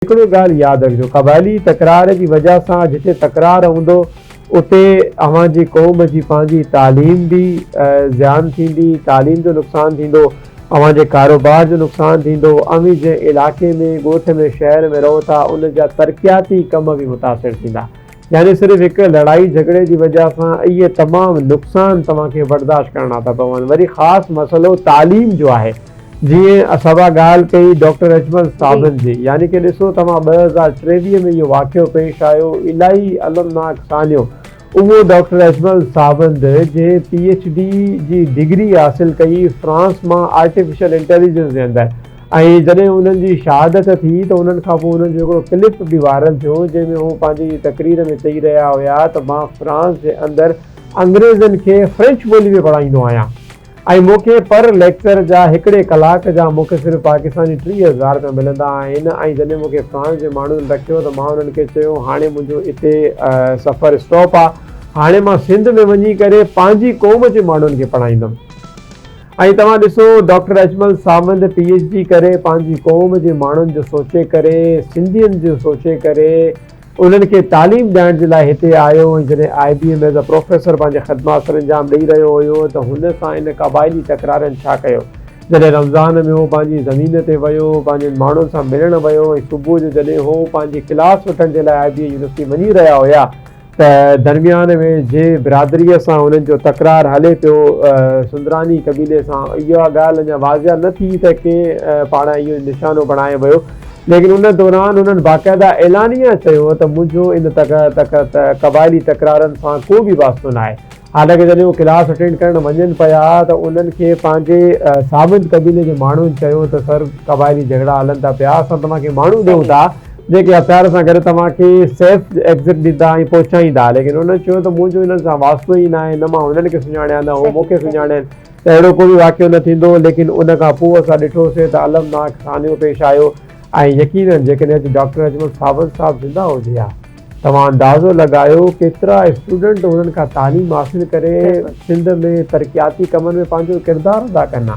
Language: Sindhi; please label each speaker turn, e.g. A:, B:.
A: هڪڙي ڳالهه ياد رکجو قبائلي تڪرار جي وجهه سان جتي تڪرار هوندو اتي اوهان جي قوم جي پنهنجي تعليم به زيان ٿيندي تعليم جو نقصان ٿيندو اوهان جي ڪاروبار جو نقصان ٿيندو اوهين جنهن علائقي ۾ ڳوٺ ۾ شهر ۾ رهو ٿا ان جا ترقياتي ڪم به متاثر ٿيندا يعني صرف هڪ لڙائي جهڳڙي جي وجهه سان اهي تمام نقصان توهان کي برداشت ڪرڻا ٿا پون. وري خاص مسئلو تعليم جو آهي. جيئن اسابا ڳالهه ڪئي ڊاڪٽر اجمل صابن جي. يعني ڪي ڏسو توهان ٻه هزار ٽيويهه ۾ اهو واقعو پيش آيو الائي المناڪ سانحو اهو ڊاڪٽر اجمل صابند جنهن پي ايڇ ڊي جي ڊگري حاصل ڪئي فرانس مان آرٽيفيشل انٽيليجنس جي اندر ۽ جڏهن انهن جي شهادت ٿي ته انهن کان پوء انهن جو هڪڙو ڪلپ به وائرل ٿيو جنهن ۾ هو پنهنجي تقرير ۾ چئي رهيا هيا ته مان فرانس جي اندر انگريزن کي فرينچ ٻولي ۾ پڙهائيندو آهيان ۽ مون کي پر ليڪچر جا هڪڙي ڪلاڪ جا مون کي صرف پاڪستاني ٽيهه هزار رپيا ملندا آهن ۽ جڏهن مون کي فرانس جي ماڻهن رکيو ته مان انهن کي چيو هاڻي منهنجو اتي سفر اسٽاپ آهي هاڻي مان سنڌ ۾ وڃي ڪري پنهنجي قوم جي ماڻهن کي پڙهائيندم. ۽ توهان ڏسو doctor Ajmal Sawand P H D ڪري پنهنجي قوم جي ماڻهن جو سوچي ڪري سنڌين جو سوچي ڪري انهن کي تعليم ڏيائڻ جي لاء هتي آيو ۽ جڏهن I B M as a professor پنهنجي خدمات سر انجام ڏئي رهيو هيو ته هن سان ان قبائلي تڪرارين ڇا ڪيو جڏهن رمضان ۾ هو پنهنجي زمين تي ويو پنهنجن ماڻهن سان ملڻ ويو ۽ صبح جو جڏهن هو پنهنجي ڪلاس وٺڻ جي لاء آئي بي ايم يونيورسٽي وڃي رهيا هيا ته درميان ۾ جنهن برادريء سان هنن جو تڪرار هلي پيو، سندراني قبيلي سان، اها ڳالهه اڃا واضح نه ٿي ته ڪنهن پاڙان اهو نشانو بڻايو ويو، ليڪن ان دوران هنن باقاعده اعلانيه چيو هو ته منهنجو ان قبائلي تڪرارن سان ڪو به واسطو ناهي. حالانڪ جڏهن هو ڪلاس اٽينڊ ڪرڻ وڃن پيا ته انهن کي پنهنجي ساوند قبيلي جي ماڻهن چيو ته سر قبائلي جهيڙا هلن ٿا پيا اسان توهان کي ماڻهو ڏيون ٿا جيڪي هٿيار سان گڏ توهان کي سيف ايگزٽ ڏيندا ۽ پهچائيندا ليڪن انهن چيو ته منهنجو انهن سان واسطو ئي ناهي نه مان انهن کي سڃاڻيان نه هو مون کي سڃاڻين ته اهڙو ڪو به واقعو نه ٿيندو ليڪن ان کان پوء اسان ڏٺو سي ته المناڪ سانحو پيش آيو ۽ يقينن جيڪڏهن اڄ ڊاڪٽر اجمل ساوند صاحب زنده هجي ها توهان اندازو لڳايو ڪيترا اسٽوڊنٽ هنن کان تعليم حاصل ڪري سنڌ ۾ ترقياتي ڪمن ۾ پنهنجو ڪردار ادا ڪندا.